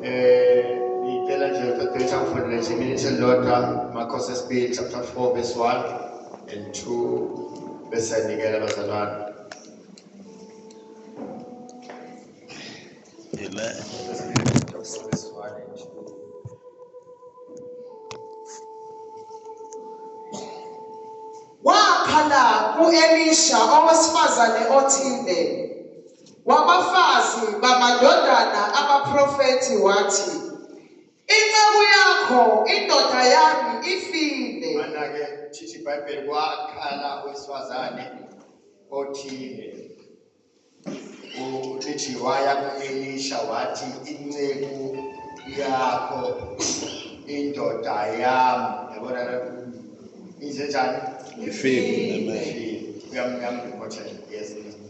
Eh ngicela nje uqeqesha ufundele nje iminithe elilodwa Marcos esibili chapter 4 verse 1 and 2 bese nikela bazalwane. Amen. Wakhala kuElisha owesifazane othile Wabafazi bamadodana abaprofethi wathi, Inceku yakho, indoda yami, ifile. Mana-ke thithi iBhayibheli kwakhala owesifazane othile ulithi waya ku-elisha wathi inceku yakho indoda yami yabona injenjani ifile uyamnyama ngikhothela yes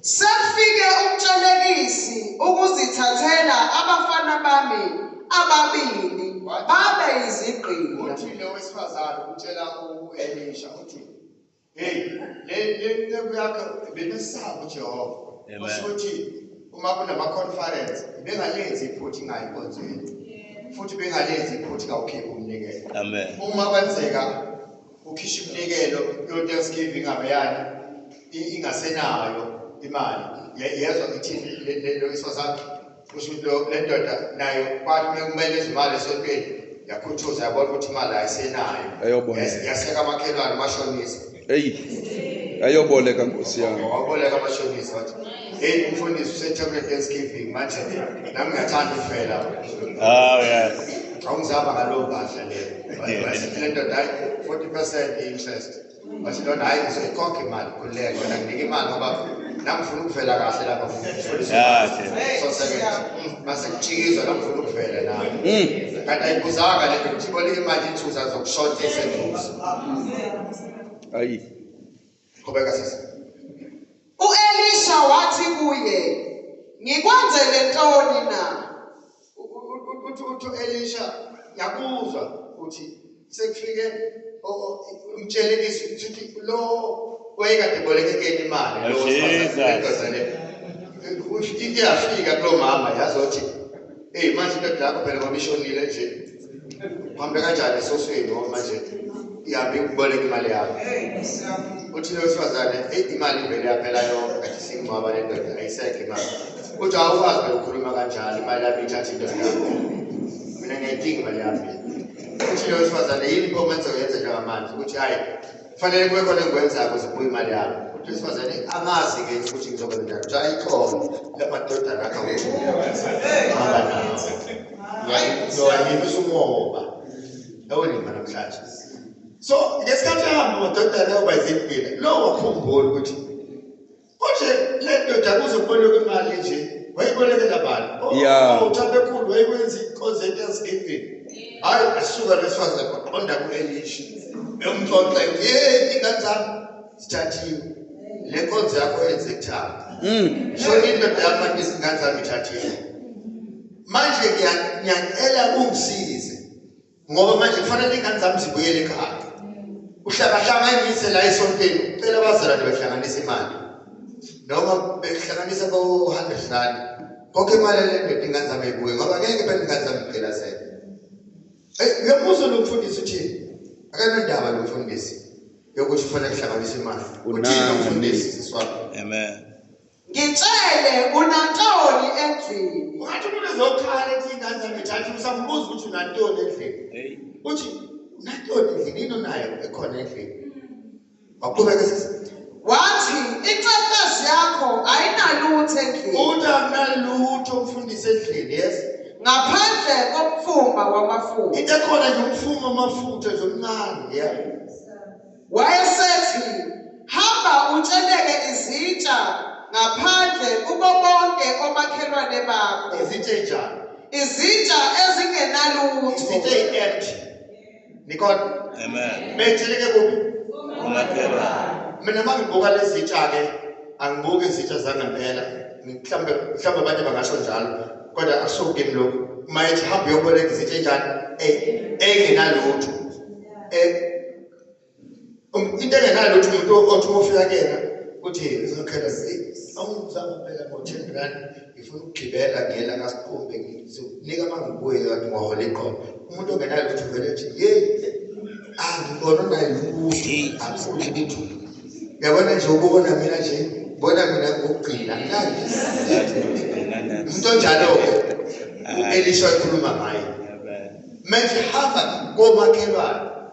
Sekufike uMtshelekisi ukuzithathela abafana bami ababili babe yizigqila. Uthi lo wesifazane utshela u-Elisha uthi, Hey, le le nceku yakho bemesaba uJehova. Amen. Kusho ukuthi uma kunama conference bengalenzi iphutha ingayi konzweni. Futhi bengalenzi iphutha kawukhiphi umnikelo. Amen. Uma kwenzeka ukhishwa iminikelo yo-thanksgiving abeyani ingasenayo imali yezwa ithini lento isosakhe kusho ukuthi le ndoda nayo kwathi uma kumele izimali esontweni yakhuthuza yabona ukuthi imali ayisenayo yaseka amakhelwane umashonisa eyi ayoboleka nkosi yami waboleka amashonisa wathi Hey, umfundisi usetshebe Thanksgiving manje nami ngiyathanda ukuvela. Oh yes. Awungizaba ngalowo kahle le. Bathi le ndoda hayi 40% interest. Bathi lona hayi ngizoyikhokha imali kulele yona nginika imali ngoba nami ngifuna ukuvela kahle lapha mfundisi. Yeah. So sebenza. Mase kuchikizwa nami ngifuna ukuvela nami. Mm. Kanti ayibuzanga le nto ukuthi imali ithuza zokushothisa eduze. Ayi. Qhubeka sisi. UElisha wathi kuye, "Ngikwenzele ntoni na?" Uthi uthi uElisha yakuzwa ukuthi sekufike umtshele izwi ukuthi lo wayekade bolekekeni imali lo sibazane. Iyafika kulomama yazothi, "Hey manje into yakho phela ngoba ishonile nje." uhambe kanjani esosweni ngoba manje ihambe ikuboleka imali yakho uthi lo wesifazane eyi imali ivele yaphela yonke kathi singcwaba le ndoda ayisekho imali uthi awukwazi bekukhuluma kanjalo imali yami ithatha indoda yakho mina ngiyayidinga imali yami uthi lo wesifazane yini pho kwenza uyenze njengamanje ukuthi hhayi kufanele kube khona engikwenzako zibuye imali yami uthi wesifazane angazi-ke ukuthi ngizokwenza njani uthi ayikhono lamadodana akho hamba nawo yowayiphisa umoba ewolima namhlanje so ngesikhathi ahamba amadoda layo bayizimpila lowo wakhumbula ukuthi Konje le ndoda kuze kuboleka imali nje wayibolekela bani? Oh, yeah. Uthabekhulu oh, wayikwenza ikonze Thanksgiving. Hayi asuka lesifazane kwaqonda ku-Elisha. Emxoxe yey ingane zami zithathiwe. Le nkonzo yakho yenze thaba. Mm. So indoda yami manje izingane zami ithathiwe. Manje ngiyacela ungisize. ngoba manje kufanele ingane zami zibuyele ekhaya uhlangahlanganise la esontweni ucela abazalwane bahlanganise imali noma behlanganisa bo-hundred rand konke imali elendoda ingane zami ebuye ngoba ngeke phela ingane zami phela sele eyi uyamuzwa lo mfundisi uthini akanandaba lo mfundisi yokuthi kufanele kuhlanganise imali uthini lo mfundisi siswabo amen Ngitshele unantoni endlini? Ungathi umuntu ezokhala ethi ingane zami thatha usamubuza ukuthi unantoni endlini. Hey. Uthi unantoni endlini yini onayo ekhona endlini? Waqhubeka sisi. Wathi incentezi yakho ayinalutho endlini. Uthi akunalutho umfundisi endlini yes. Ngaphandle komfuma wamafutha. Into ekhona nje umfuma wamafutha nje omncane yeah. Wayesethi, Hamba utsheleke izitsha ngaphandle kubo bonke omakhelwane bakho. Izitsha enjani? Izitsha ezingenalutho. Izitsha eyi-empty. Nikona? Amen. Beyitsheleke kuphi? Umakhelwane. Mina uma ngibuka lezi zitsha-ke angibuki izitsha zangempela mhlawumbe mhlawumbe abanye bangasho njalo kodwa akusuke kimi lokhu uma ethi hambe uyoboleka izitsha enjani engenalutho eh, eh Um, into engenalo ukuthi umuntu othi ofika kuyena uthi ngizokhetha awungizama phela ngo-ten rand ngifuna ukugibela ngiyela kasiqumbe ngizokunika uma ngibuye kanti ngiwahola iqobo umuntu ongenalo ukuthi uvele nje yeyi angibona naye nokuthi angifuni lithu yabona nje ubona mina nje bona mina ngokugcina ngilandi umuntu onjalo-ke u-elisha ekhuluma ngaye manje hamba komakhelwane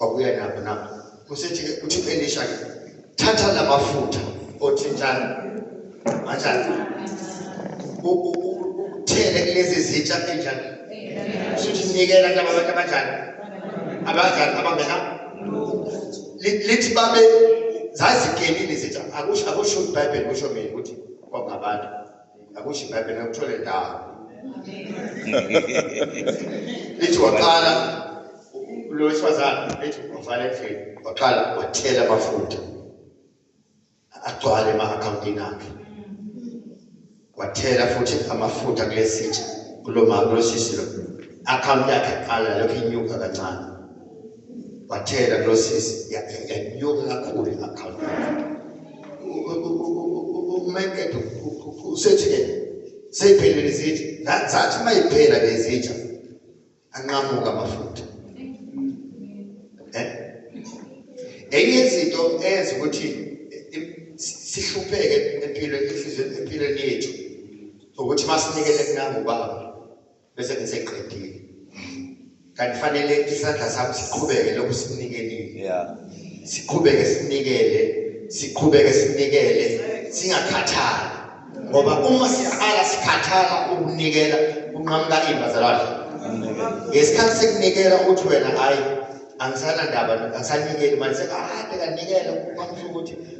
wabuya nabo nabo kusethi uthi Elisha ke thatha lamafutha othintana kanjani uthele kulezi zitsha kanjani usuthi nikela laba bantu abanjani abanjani abangena lithi babe zazigenile zitsha akusho akusho iBhayibheli kusho mina ukuthi kwabangabantu akusho ibhayibheli ngakuthola endala lithi waqala lo wesifazane lithi wafana endlini waqala wathela amafutha agcwale ema-akhawuntini akhe wathela futhi amafutha kule sitsha kulo mama kulosisi lo akhawunti yakhe qala lokhu inyuka kancane wathela kulo sisi yanyuka kakhulu i-account umakethe usethi-ke seyiphelile izitsha zathi uma yiphela le zitsha anqamuka amafutha eh? enye izinto eyenza ukuthi sihlupheke empilweni empilweni yethu ukuthi masinikele kunangubaba bese ngiseqedile kanti fanele isandla sami siqhubeke lokhu sinikelile yeah siqhubeke sinikele siqhubeke sinikele singakhathali ngoba uma siqala sikhathala ukunikela kunqamuka imbazalwane ngesikhathi sekunikela uthi wena hayi angisanandaba angisanikeli manje sekade kanikela kwamsho ukuthi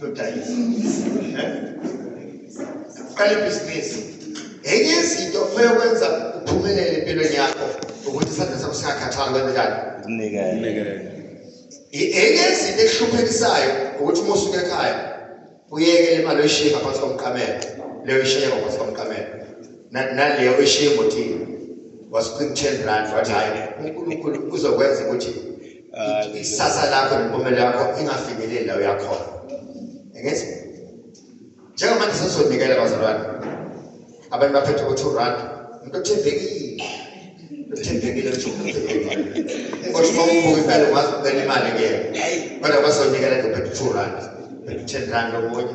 lodayisa uqala ibhizinisi enye izinto okumele ukwenza uphumelele empilweni yakho ukuthi isandla sakho singakhathali kwenzenjani ukunikela enye izinto ekuhluphekisayo ukuthi uma usuke ekhaya uyekele imali oyishiye ngaphansi komqamelo leyo ishiye ngaphansi komqamelo naleyo oyishiye emotini wasiqinitheni rand wathi hhayi unkulunkulu uzokwenza ukuthi ikusasa lakho nempumela yakho ingafinyeleli la uyakhona ngithi njengamanje sesizonikela bazalwane abantu baphethe ukuthi urand umuntu othembekile uthembekile kodwa uma ubuka impela ungazi ukubela imali kuyena kodwa bazonikela ngophethe u-two rand ten rand omunye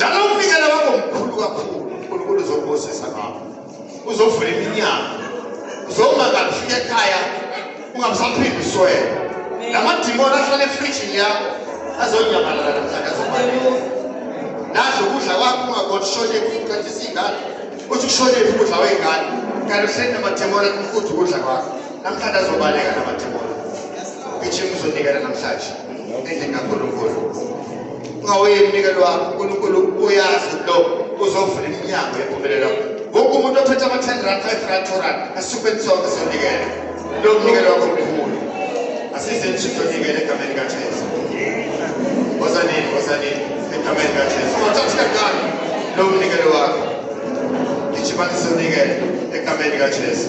nalomnikelo wakho mkhulu kakhulu unkulunkulu uzokubusisa ngakho uzovula iminyango uzoma kabi ufike ekhaya ungabusaphinde uswele la madimoni ahlala efrijini yakho azonyamalala namhlanje azobaleka nadla ukudla kwakho ungakona ushone kuqathisa iy'ngane uthi kushonephi ukudla wey'ngane kanti uhleli namadimoni athi mfuthu ukudla kwakho Namhlanje azobaleka namathibona. Ngijima uzonikela namhlanje. Endlini kaNkulunkulu. Ungawuyeni umnikelo wakho. UNkulunkulu uyazi lo uzovula iminyango yempumelelo. Wonke umuntu ophethe ama-10 rand, 5 rand, 2 rand asuke ensonke sonikela. Lo mnikelo wakho mkhulu. Asize nje uzonikela egameni kaJesu. Wozanini, wozanini egameni kaJesu. Ungathathi kancane lo mnikelo wakho. Ngijima ngizonikela egameni kaJesu.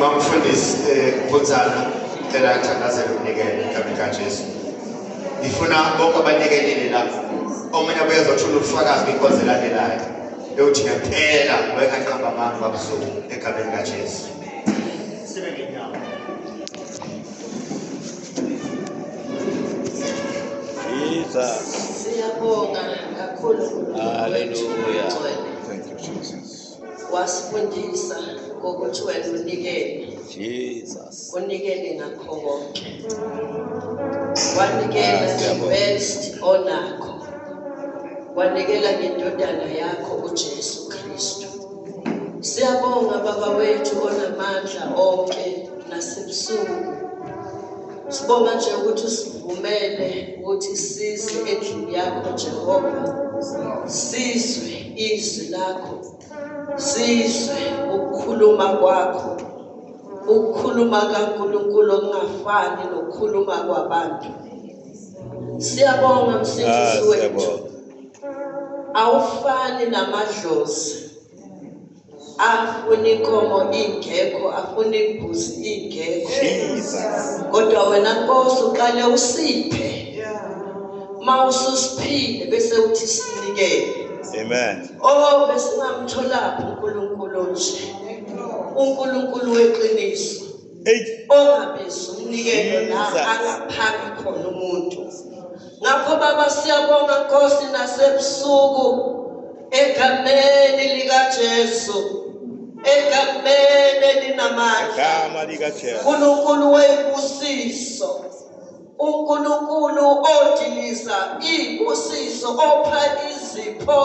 mamfundisi eh, phunzana cela athandazele unikele egameni kajesu ngifuna bonke abanikelile la omunye abuye ezothula ubufakazi kwinkonzo elandelayo eyothi ngempela wayengaqamba amanga babusuku egameni kajesu Jesus. Siyabonga kakhulu Hallelujah. Thank you, Jesus. Wasifundisa ngokuthi wena unikele. Jesus. Unikele ngakho konke. Wanikela ah, the best onakho. Wanikela ngendodana yakho uJesu Kristu. Siyabonga baba wethu onamandla onke. nasebusuku sibonga nje ukuthi usivumele ukuthi size endlini yakho Jehova sizwe izwi lakho sizwe ukukhuluma kwakho ukukhuluma kaNkulunkulu okungafani nokukhuluma kwabantu siyabonga msindisi ah, wethu awufani namadlozi afuna inkomo ingekho afuna imbuzi ingekho kodwa wena nkosi uqale usiphe uma ususiphile bese uthi sinikele amen oh besingamtholaphi uNkulunkulu nje uNkulunkulu weqiniso ongabizi umnikelo la angaphaki khona umuntu ngakho baba siyabonga nkosi nasebusuku egameni likajesu egameni elinamandla unkulunkulu webusiso UNkulunkulu odiliza ibusiso opha izipho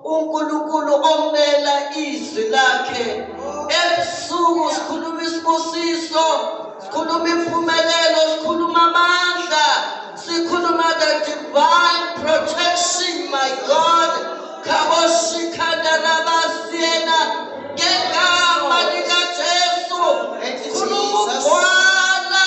uNkulunkulu omela izwi lakhe ebusuku sikhuluma isibusiso sikhuluma impumelelo sikhuluma amandla sikhuluma the divine protection my god khaboshikhandarabasiyena ngegama likajesu khuluma ugwala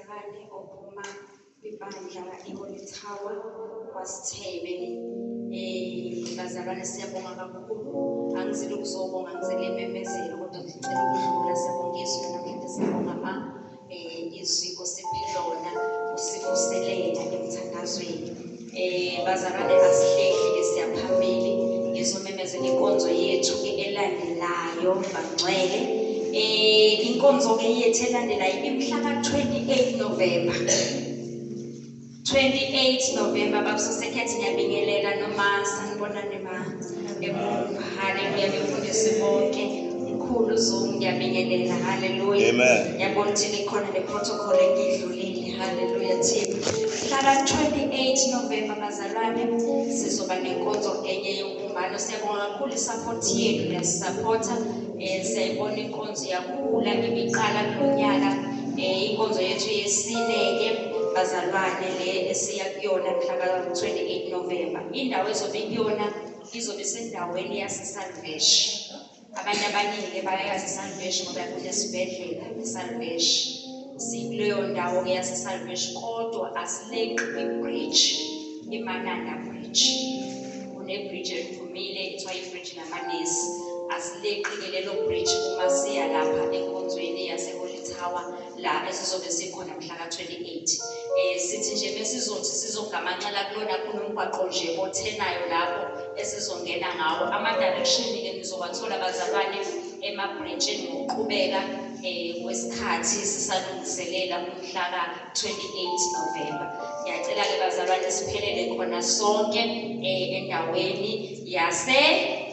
Abanye ophuma kwibandla iHoly Tower kwaSithebe um bazalwane siyabonga kakhulu angizile ukuzobonga angizile imemezelo kodwa ngicela ukudlula siyabonga izwi namhlanje siyabonga ma um izwi osiphe lona usikuselela emthandazweni Eh bazalwane asihlehli ke siyaphambili ngizomemezela inkonzo yethu ke elandelayo bangcwele. Eh inkonzo ke yethu elandelayo imhla ka 28 November. 28 November babusose khethi ngiyabingelela noma sanibonani ma. Haleluya nifundisi bonke mkhulu Zoom ngiyabingelela haleluya yabona ukuthi likhona neprotocol engidlulile haleluya team hlala 28 November bazalwane sizoba nenkonzo enye yokumbalo siyabonga kakhulu isupport yenu niyasupporta eh siyayibona inkonzo yakhula ngibiqala kulonyaka eh inkonzo yethu yesine ke bazalwane le esiya kuyona mhla ka 28 November Indawo ezobe kuyona izobe sendaweni yaseSalvesh. Abantu abaningi bayayazi iSalvesh ngoba kunesibhedlela iSalvesh. Sikuleyo ndawo ke yaseSalvesh kodwa asileqi kwi-bridge, iMananda Bridge. Kune-bridge eliphumile kuthiwa i-bridge lamanesi. Asileqi ke lelo bridge uma siya lapha enkonzweni yaseHoly Tower la esizobe sikhona mhla ka-28 um eh, sithi nje besizothi sizogamanxela kulona kunomgwaqo nje othenayo lapho esizongena ngawo ama-direction-ke nizowathola bazalwane emabhrentshini ngokuqhubeka um kwesikhathi sisalungiselela umhla ka-28 novemba ngiyacela-ke bazalwane siphelele khona sonke um endaweni yase